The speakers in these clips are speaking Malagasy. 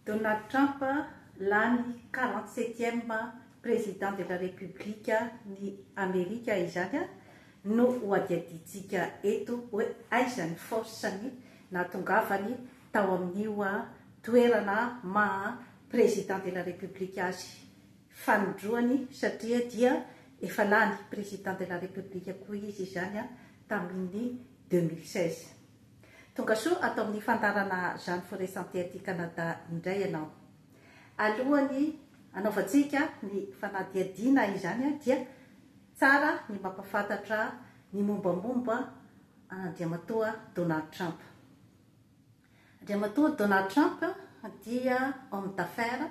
Donald Trump lany quarante septième Président de la République ny Amerika izany no hohadihadiantsika eto hoe aiza ny force ny nahatongavany tao amin'io toerana maha Président de la République azy fanindroany satria dia efa lany Président de la République koa izy izany tamin'ny deux mille seize. Tongasoa ato amin'ny fandaharana Jeanne Forêt Santé aty Canada indray ianao. Alohan'ny hanaovantsika ny fanadihadiana izany dia tsara ny mampahafantatra ny mombamomba an'Andriamatoa Donald Trump. Andriamatoa Donald Trump dia homme d'affaires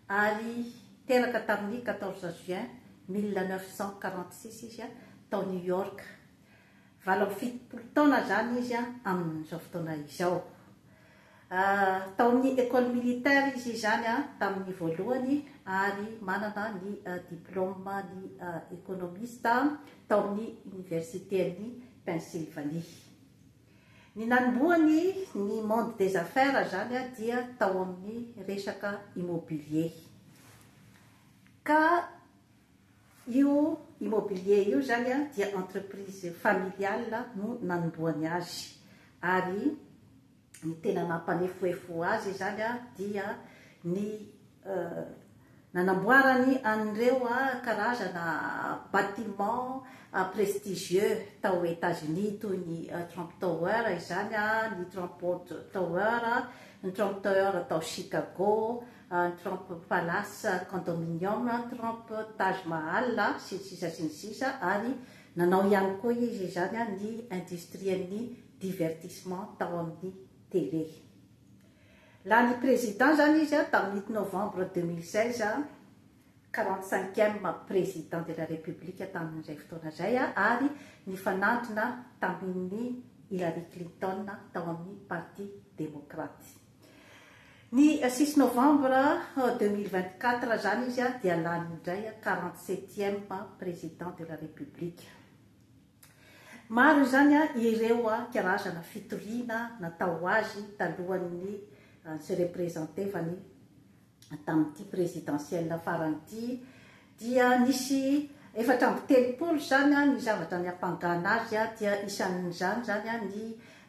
ary teraka tamin'ny quatorze juin mille neuf cent quarante six izy tao New York. Valo amby fitopolo taona izany izy amin'izao fotoana izao. Tao amin'ny Ecole militaire izy izany tamin'ny voalohany ary manana ny diplaoman'ny ekonomista tao amin'ny Oniversiten'i Pennsylvanie. Ny nanombohany ny monde des affaires izany dia tao amin'ny resaka immobilier ka Io Immobilier io izany dia entreprise familiale no nanombohany azy ary ny tena nampanefoefo azy izany dia ny nanamboarany an'ireo karazana bâtiments prestigieux tao États-Unis toy ny Trump Tower izany, ny Trump Watch Tower, ny Trump Tower tao Chicago Trump Palace Condominium, Trump Taj Mahal, sy ny sisa sy ny sisa ary nanao ihany koa izy izany ny industrien'ny divertissement tao amin'ny télé. Lany président izany izy tamin'ny i novembre deux mille seize, quarante cinquième président de la République tamin'izay fotoana izay ary nifanandrina tamin'i Hillary Clinton tao amin'ny Parti Demokraty. Ny six novembre deux mille vingt quatre zany izy dia lany indray quarante septième Président de la République. Maro izany ireo karazana fitoriana natao azy talohan'ny tsy representevany tamin'ity présidentielle farany ity dia nisy efatra amby telopolo izany ny zavatra niampangana azy dia isan'izany izany ny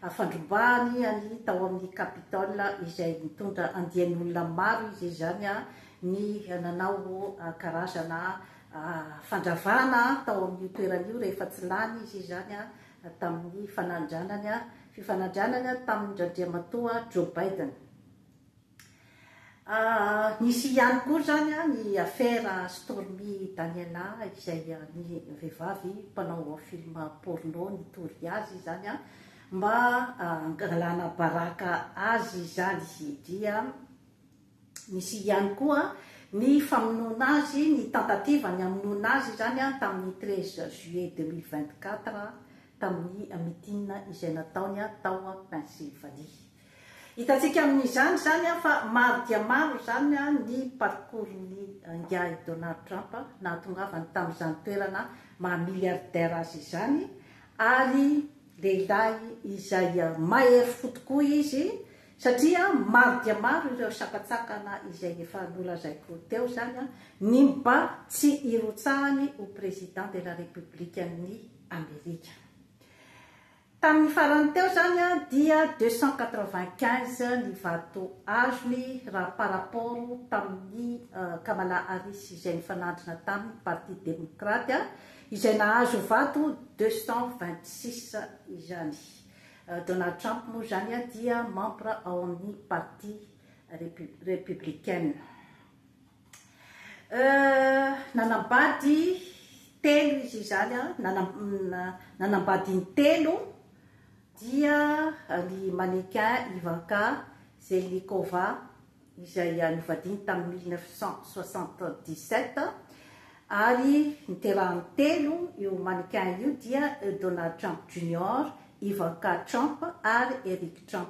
fandrobahany ny tao amin'ny Capitole izay nitondra andian'olona maro izy izany ny nanao karazana fandravana tao amin'io toerana io rehefa tsy lany izy izany tamin'ny fanandranany fifanandranany tamin-dRandriamatoa Joe Biden. Nisy ihany koa izany ny afera Stormy Daniela izay ny vehivavy mpanao film porno nitory azy izany mba hangalana baraka azy izany dia nisy ihany koa ny famonoana azy, ny tentative ny hamonoana azy izany tamin'ny treize juillet deux mille vingt-quatre tamin'ny meeting izay nataony tao Pennsylvanie. Hitantsika amin'izany izany fa maro dia maro izany ny parcours-n'i Ingahy Donald Trump nahatongavany tamin'izany toerana maha milliardaire azy izany ary lehilahy izay mahery fo tokoa izy satria maro dia maro ireo sakantsakana izay efa nolazaiko teo izany ny mba tsy hirotsahany ho Président de la République-n'i Amerika. Tamin'ny farany teo izany dia deux cent quatre-vingt-quinze ny vato azony raha par rapport tamin'ny Kamala Harris izay nifanandrina taminy Parti Demokraty izay nahazo vato deux cent vingt-six izany. Donald Trump moa izany dia membre ao amin'ny Parti Républicaine. Euh, nanambady telo izy izany a, nanambady intelo dia ry Manequin Ivanka Zelnikova izay novadiny tamin'ny mille neuf cent soixante-dix-sept ary niterahany telo io Manequin io dia Donald Trump Junior, Ivanka Trump ary Eric Trump.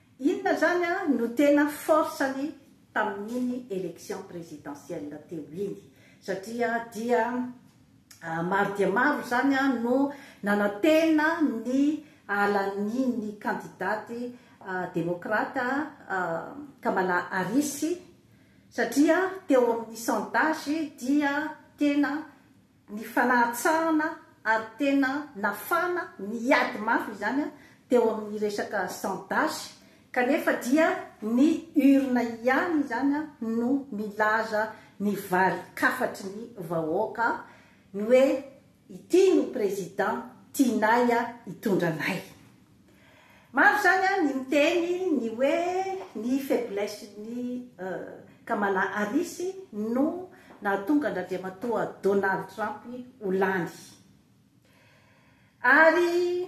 Inona zany no tena force-ny tamin'iny election présidentielle teo iny? Satria dia maro dia maro zany no nanantena ny halan'iny kandidate demokrate Kamala Harris satria teo amin'ny sondage dia tena ny fanahatsahana ary tena nafana niady mafy izany teo amin'ny resaka sans-dahy kanefa dia ny urne ihany izany no nilaza ny varin-kafatry ny vahoaka ny hoe ity no président tianay hitondra anay. Maro zany an ny miteny ny hoe ny faiblesse ny Kamala Harris no nahatonga an dRandriamatoa Donald Trump ho lany. Ary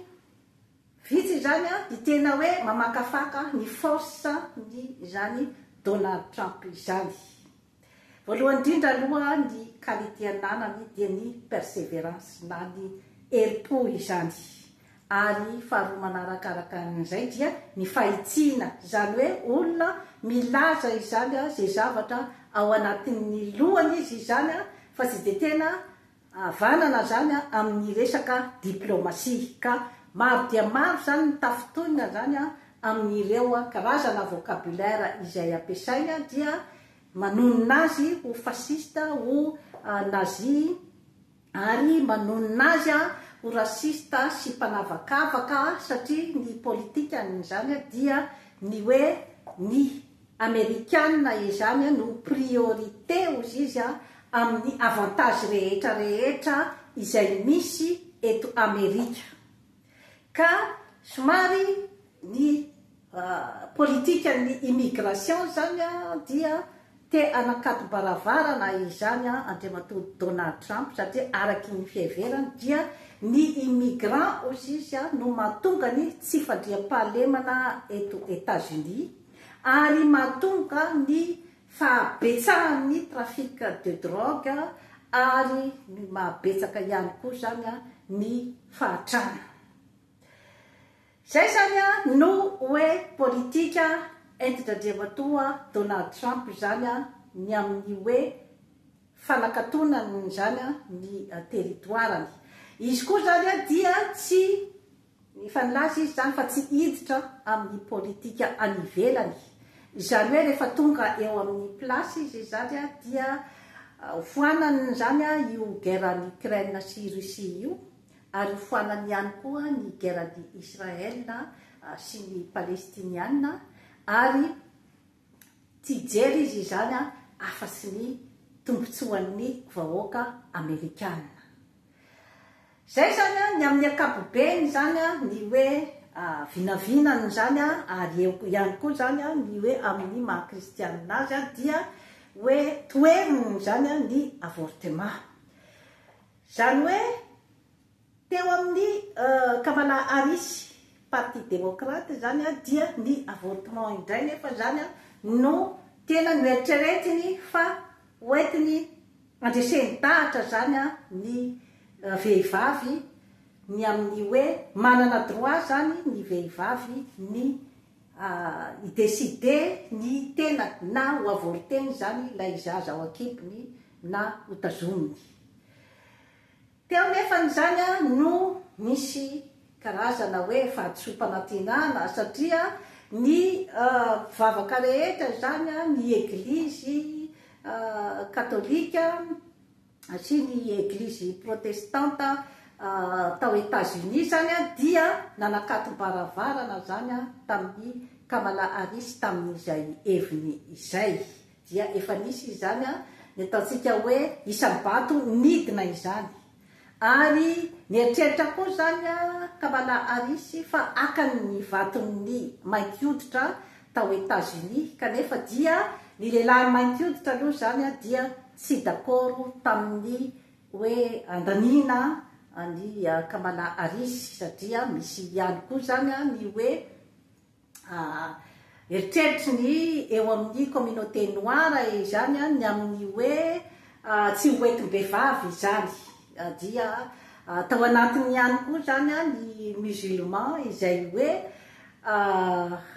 vitsy izany an ny tena hoe mamakafaka ny force ny izany Donald Trump izany. Voalohany indrindra aloha ny qualité ananany dia ny perseverance na ny herim-po izany ary faharoa manaraka araka an'izay dia ny fahitsiana izany hoe olona milaza izany izay zavatra ao anatin'ny lohany izy izany fa tsy dia tena havanana izany amin'ny resaka diplaomasia ka maro dia maro izany ny tafintohina izany amin'ireo karazana vocabulaire izay ampiasaina dia manonona azy ho fasciste, ho nazi ary manonona azy ho raciste sy mpanavakavaka satria ny politikan'izany dia ny hoe ny Amerikana izany no priorité ozy izy amin'ny avantage rehetra rehetra izay misy eto Amerika. Ka somary ny politikan'ny immigration izany dia te hanakatobaravarana izany Andriamatoa Donald Trump satria araky ny fiheverany dia ny immigrant ozy izy no mahatonga ny tsy fandriampahalemana eto Etats-Unis. ary mahatonga ny fahabetsahan'ny trafic de drogue ary mahabetsaka ihany koa izany ny fahatrana. Izay izany no hoe politika enti-dRadriamatoa Donald Trump izany ny amin'ny hoe fanakatonany izany ny territoire-ny. Izy koa izany dia tsy. Efa nilaza izy izany fa tsy hiditra amin'ny politika any ivelany. Izany hoe rehefa tonga eo amin'ny place izy izany dia hofoanany izany io guerre any Ukraine sy Russie io ary hofoanany ihany koa ny guerre any Israel sy ny Palestiniana ary tsy hijery izy izany afa-tsy ny tombotsoan'ny vahoaka Amerikana. Izay izany an, ny amin'ny ankapobeny izany an, ny hoe vinavinana izany an, ary eo ihany koa izany an, ny hoe amin'ny maha kristianina azy an, dia hoe toheriny izany an, ny avortema. Izany hoe teo amin'ny Kamala Harris, parti demokrata izany an, dia ny avortement indray nefa izany an, no tena noeritreretiny fa hoentiny, Andresen-dahatra zany ny vehivavy ny amin'ny hoe manana droit zany ny vehivavy ny hi decider ny tenany na ho avorter-ny zany ilay zaza ao an-kibony na ho tazominy. Teo nefany izany no nisy karazana hoe fahadisoam-panantenana satria ny mpivavaka rehetra izany, ny eglizy katolika sy ny eglizy protestanta tao Etats-Unis izany dia nanakatobaravarana izany tamin'i Kamala Harris tamin'izay heviny izay. Dia efa nisy izany ny ataontsika hoe isa-bato nidina izany. Ary nieritreritra koa izany Kamala Harris fa haka ny vaton'ny mainty hoditra tao Etazonia, kanefa dia ny lehilahy mainty hoditra aloha izany dia tsy d'accord tamin'ny hoe handaniana an'i Kamala Harris, satria misy ihany koa izany ny hoe Eritreritry ny eo amin'ny communauté noir izany ny amin'ny hoe tsy ho entim-behivavy izany. Dia tao anatiny ihany koa izany ny musulman izay hoe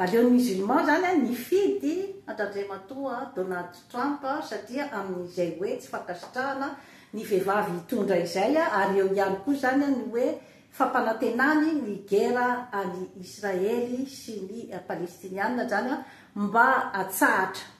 aleon'ny musulman izany nifidy an-dRandriamatoa Donald Trump satria amin'izay hoe tsy fankasitrahana ny vehivavy hitondra izay ary eo ihany koa izany ny hoe fampanantenany ny gera any Israely sy ny Palestiniana zany mba atsahatra.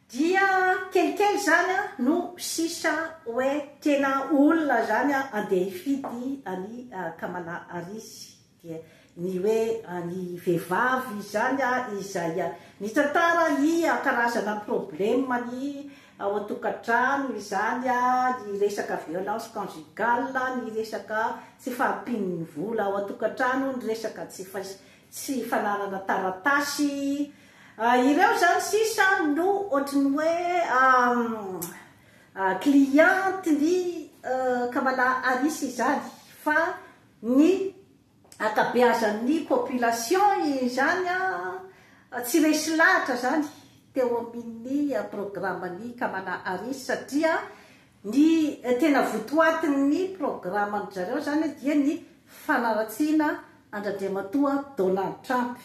Dia kelikely zany no sisa oe tena olona zany andeha hifidy an'i Kamala Harris. Dia Ny hoe any vevavy izany a izay mitantara i a karazana probleme ny ao an-tokantrano izany a, ny resaka violence conjugale, ny resaka tsy fahampian'ny vola ao an-tokantrano, ny resaka tsy fais tsy fananana taratasy, ireo izany sisa no ohatry ny hoe a client ny Kamala Harris izany fa ny ankabeazan'ny population izany an, tsy resy lahatra izany teo amin'ny programan'i Kamala Harris satria ny tena votoatin'ny programan-dry zareo izany dia ny fanaratsiana an-dRandriamatoa Donald Trump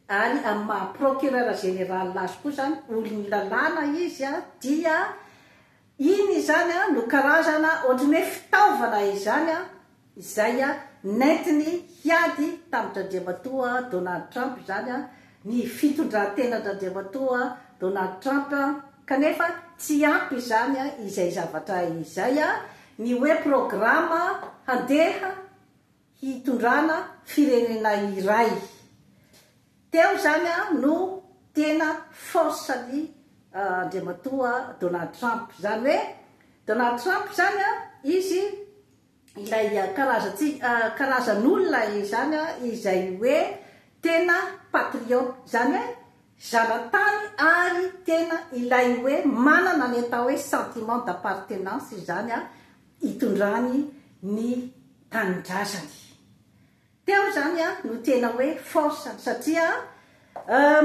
ary amin'ny maha procureur général azy koa izany olon'ny lalàna izy dia Iny izany an no karazana ohatry ny hoe fitaovana izany an izay an nentiny hiady tamin-dRandriamatoa Donald Trump izany an ny fitondran-tenan-dRandriamatoa Donald Trump an kanefa tsy ampy izany an izay zavatra izay an ny hoe programa handeha hitondrana firenena iray. Teo izany no tena force ny Andriamatoa Donald Trump. Izany hoe Donald Trump izany izy ilay karazan'olona izany izay hoe tena patriote. Izany hoe zanatany ary tena ilay hoe manana ny atao hoe sentiment d'appartenance izany. hitondrany ny tanindrazany. Teo izany no tena hoe force satria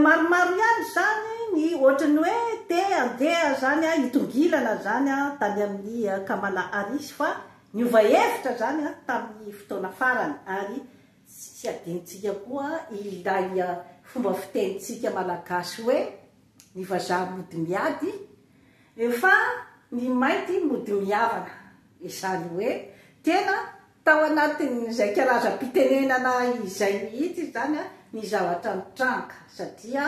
maromaro ihany izany ny ohatran'ny hoe te handeha izany hitongilana izany tany amin'i Kamala Harris fa niova hevitra izany tamin'ny fotoana farany ary tsy adinontsika koa ilay fomba fitenintsika malagasy hoe. Ny vazaha mody miady fa ny mainty mody mihavana. Izany hoe tena tao anatin'izay karazam-pitenenana izay mihitsy izany ny zavatra nitranga satria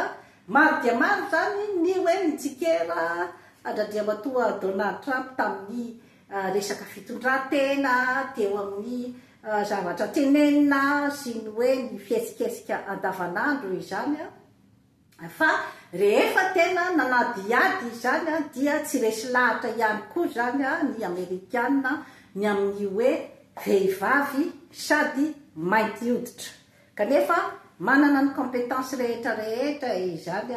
maro dia maro izany ny hoe nitsikera an-dRandriamatoa Donald Trump tamin'ny resaka fitondran-tena teo amin'ny zavatra tenenina sy ny hoe ny fihetsiketsika andavanandro izany Fa rehefa tena nanadihady izany dia tsy resy lahatra ihany koa izany ny Amerikana ny amin'ny hoe vehivavy sady mainty hoditra. Kanefa manana ny compétence rehetra rehetra izany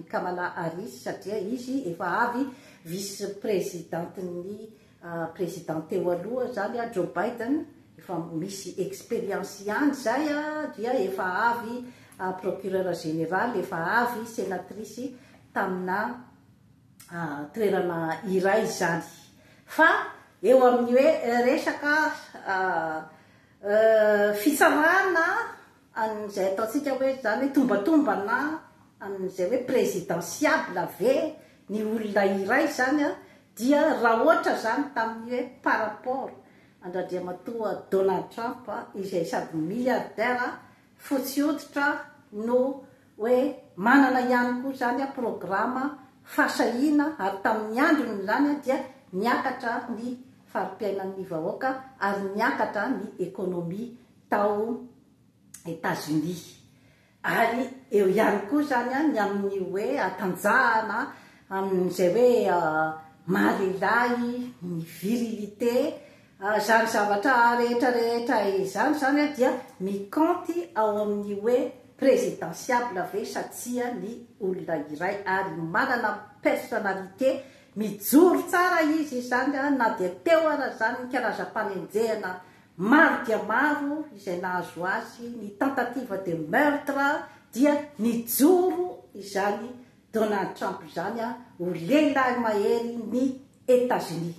i Kamala Harris satria izy efa avy vice-presidente-n'ny Président teo aloha izany a Joe Biden efa misy expérience ihany izay a dia efa avy procureur général efa avy sénatrice tamina toerana iray izany fa eo amin'ny hoe resaka fitsarana Amin'izay ataontsika hoe izany hoe tombatombana amin'izay hoe présidentiable ve ny olona iray izany dia raha ohatra izany tamin'ny hoe par rapport an-dRandriamatoa Donald Trump izay sady milliardaire fotsy hoditra no hoe manana ihany koa izany programa fahasahiana ary tamin'ny androny izany dia niakatra ny fari-piainan'ny vahoaka ary niakatra ny économie tao Etazonia. Ary eo ihany koa izany ny amin'ny hoe hatanjahana amin'izay hoe maha-lehilahy, ny virilité. Izany zavatra rehetra rehetra izany izany dia mikaonty ao amin'ny hoe présidentiable ve sa tsia ny olona iray. Ary manana personnalité, mijoro tsara izy izany na dia teo aza izany ny karazam-panenjehana Maro dia maro izay nahazo azy ny tentative de meurtre dia nijoro izany Donald Trump izany ho lehilahy mahery ny Etazonia.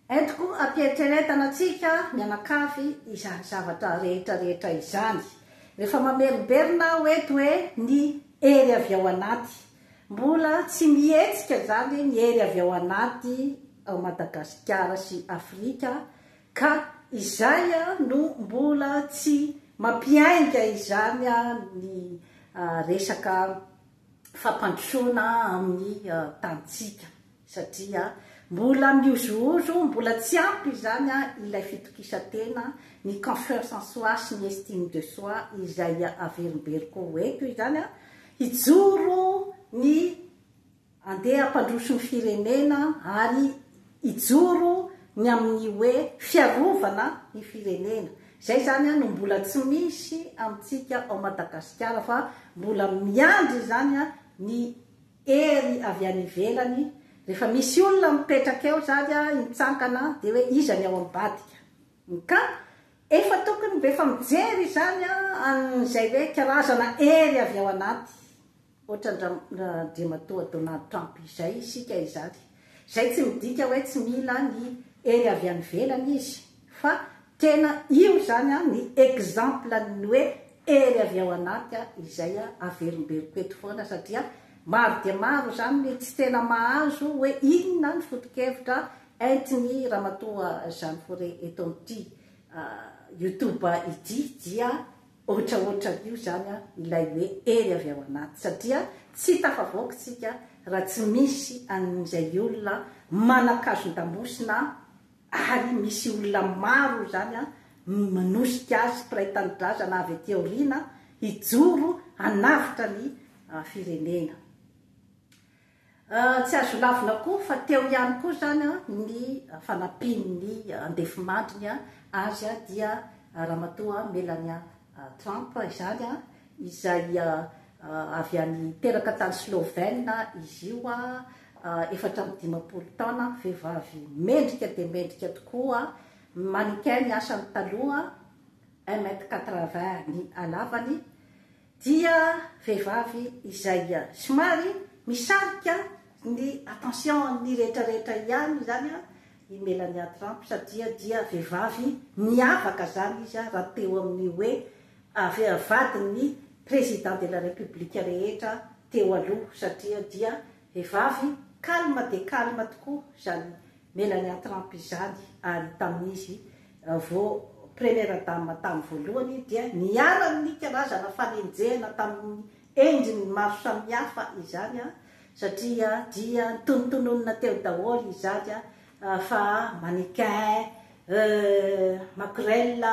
Entiko am-piheritreretana antsika mianakavy izany zavatra rehetra rehetra izany. Rehefa mamerimberina aho eto hoe ny hery avy ao anaty. Mbola tsy mihetsika izany ny hery avy ao anaty ao Madagasikara sy Afrika Ka izay no mbola tsy mampiainga izany ny resaka fampandrosoana amin'ny tanintsika satria mbola mihozohozo, mbola tsy ampy izany ilay fitokisantena, ny confiance en soi sy ny estime de soi izay averimberiko ho eto izany, hijoro ny. Andeha hampandroso ny firenena ary hijoro ny amin'ny hoe fiarovana ny firenena. Izay izany no mbola tsy misy amintsika ao Madagasikara fa mbola miandry izany ny hery avy any ivelany. Rehefa misy olona mipetraka eo izany mitsangana dia hoe iza ny ao ambadika. Ka efa tokony mba efa mijery izany an'izay hoe karazana hery avy ao anaty Ohatran-dRamatoa Donald Trump izay isika izany, izay tsy midika hoe tsy mila ny hery avy any ivelany izy, fa tena io izany ny exemple-n'ny hoe hery avy ao anaty izay averimberiko eto foana, satria maro dia maro izany ny tsy tena mahazo hoe inona ny foto-kevitra entin'i Ramatoa Jeanne Faure eto amin'ity YouTube ity, dia Ohatraohatran'io zany ilay hoe hery avy ao anaty satria tsy tafavoaka isika raha tsy misy an'izay olona manan-kazon-damosina ary misy olona maro izany manosika azy mpiray tanindrazana avy aty aoriana hijoro hanavotra ny firenena. Tsy azo lavina koa fa teo ihany koa izany ny fanampian'ny andefimandriny azy dia Ramatoa Melania Trump izany, izay avy any teraka tany Slovène izy io, efatra amby dimampolo taona, vehivavy mendrika dia mendrika tokoa, mannequin ny asany taloha, un mètre quatre-vingts ny halavany, Dia vehivavy izay somary misarika ny attention an'ny rehetra rehetra ihany izany i Melania Trump satria dia vehivavy miavaka izany izy raha teo amin'ny hoe vadin'ny Président de la République rehetra teo aloha satria dia Vehivavy calme dia calme tokoa izany Melania Trump izany ary tamin'izy vao Première Dame tamin'ny voalohany dia niharan'ny karazana fanenjehana tamin'ny endriny maro samihafa izany satria dia notonotononina teo daholo izany fa mannequin, euh, makorel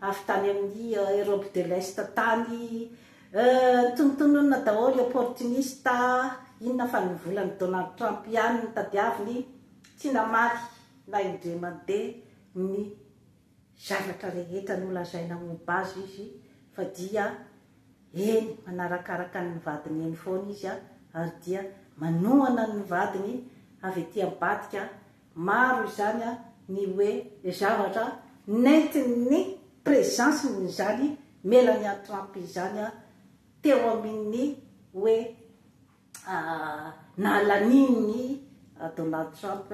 avy tany amin'ny Europe de l'Est tany, Euh tonontononina daholo opportuniste inona fa ny volan'i Donald Trump ihany no tadiaviny tsy namaly na indray mandeha ny zavatra rehetra nolazaina momba azy izy fa dia eny manarakaraka ny vadiny eny foana izy ary dia manohana ny vadiny avy ety ambadika Maro izany ny hoe zavatra nentin'ny présence-n'izany Melania Trump izany teo amin'ny hoe nahalanian'i Donald Trump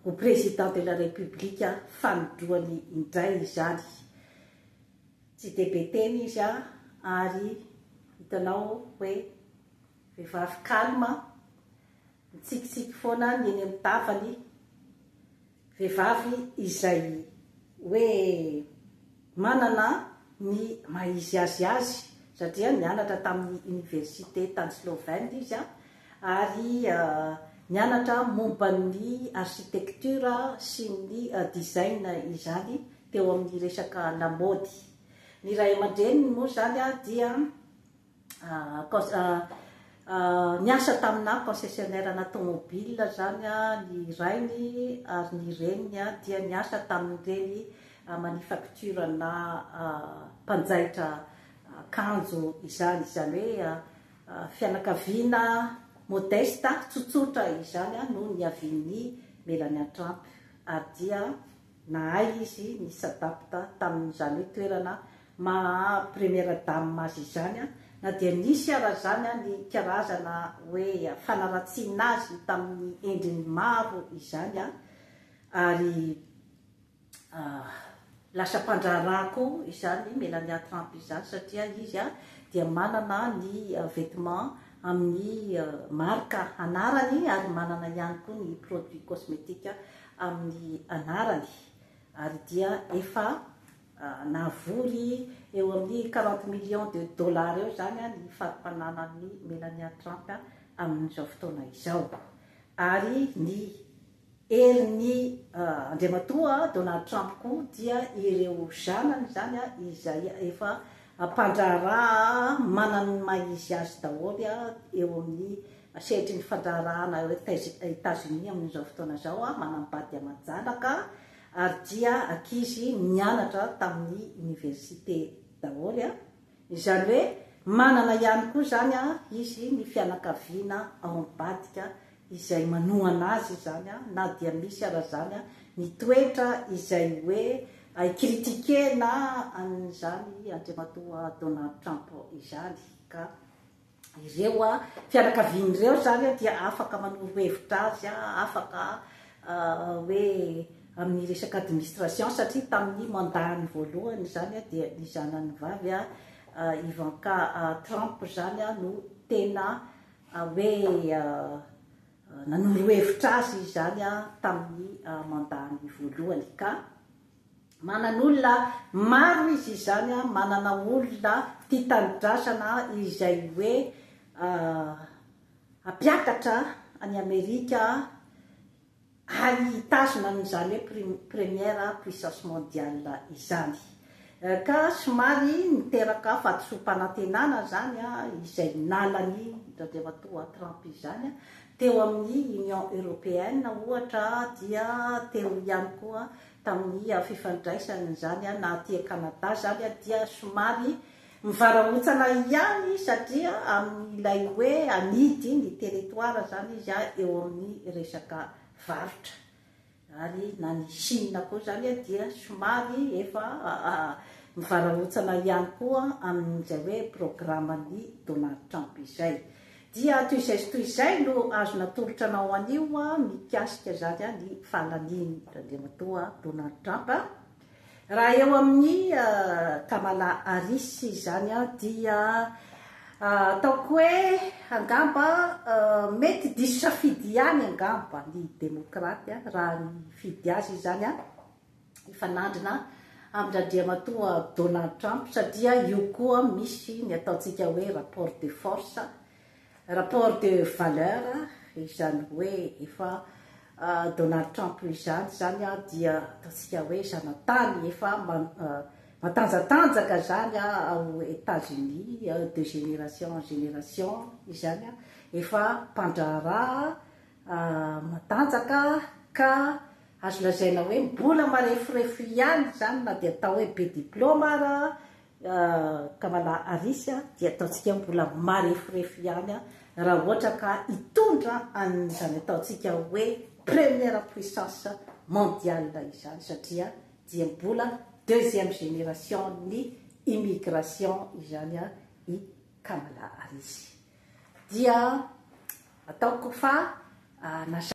ho Président de la République fanindroany indray izany. Tsy dia be teny izy ary hitanao hoe vehivavy calme. Mitsikitsiky foana ny eny amin'ny tavany vehivavy izay hoe manana ny maha izy azy azy satria nianatra tamin'ny oniversite tany Slovène izy ary nianatra momba ny architecture sy ny design izany teo amin'ny resaka lamaody. Ny ray aman-dreniny moa izany dia. Niasa taminà concessionnaire-na tômôbila izany ny rainy, ary ny reniny dia niasa tamin'ireny manufacture-na mpanjaitra akanjo izany. Izany hoe fianakaviana modeste, tsotsotra izany no niavian'i Melania Trump, ary dia Nahay izy ni s'adapta tamin'izany toerana maha première dame azy izany na dia nisy ara izany ny karazana hoe fanaratsiana azy tamin'ny endriny maro izany ary lasa mpandraharaha koa izany Melania Trump izany satria izy dia manana ny vêtement amin'ny marika anarany ary manana ihany koa ny produits cosmétiques amin'ny anarany ary dia efa nahavory eo amin'ny quarante millions de dollars eo izany ny fari-pananan'i Melania Trump amin'izao fotoana izao ary ny herin'i Andriamatoa Donald Trump koa dia ireo zanany izany izay efa mpandraharaha manana ny maha izy azy daholo eo amin'ny Sehatry ny fandraharahana ao Etazonia amin'izao fotoana izao, manam-bady aman-janaka ary dia ankizy nianatra tamin'ny oniversite daholo. Izany hoe manana ihany koa izany izy ny fianakaviana ao ambadika izay manohana azy izany na dia misy aza izany ny toetra izay hoe critique-na an'izany Andriamatoa Donald Trump izany ka Ireo fianakaviany ireo izany dia afaka manoro hevitra azy, afaka hoe amin'ny resaka administration satria tamin'ny mandat-ny voalohany izany dia ny zanany vavy Ivanka Trump izany no tena hoe nanoro hevitra azy izany tamin'ny mandat-ny voalohany ka Manana olona maro izy izany an, manana olona tia tanindrazana izay hoe hampiakatra an'i Amerika ary hitazona an'izany hoe pri, première puissance mondiale izany. Ka somary miteraka fahadisoam-panantenana izany izay nalan'i Randriamatoa Trump izany teo amin'ny Union Européenne ohatra dia teo ihany koa tamin'ny fifandraisany izany na aty Canada izany dia somary mivarahontsana ihany satria amin'ilay hoe anidy ny territoire izany izy eo amin'ny resaka varotra ary na ny Chine koa izany dia somary efa mivarahontsana ihany koa amin'izay hoe programan'i Donald Trump izay. Dia toy izay sy toy izay no azo natolotra anao anio mikasika izany ny fahalanian' Andriamatoa Donald Trump a! Raha eo amin' i Kamala Harris izany dia ataoko hoe angamba mety diso safidy ihany angamba ny Demôkraty raha hifidy azy izany a! hifanandrina amin-dRandriamatoa Donald Trump satria io koa misy ny ataontsika hoe rapport de force, rapport de valeur, izany hoe efa Donald Trump izany izany dia ataontsika hoe zanatany efa matanjatanjaka izany ao Etats-Unis, de génération en génération izany, efa mpandraharaha matanjaka ka Azo lazaina hoe mbola mareforefo ihany izany na dia atao hoe be diplaoma ara Kamala Harris dia ataontsika mbola mareforefo ihany raha ohatra ka hitondra an'izany ataontsika hoe première puissance mondiale izany satria dia mbola deuxième génération-n'ny immigration izany i Kamala Harris. Dia ataoko fa na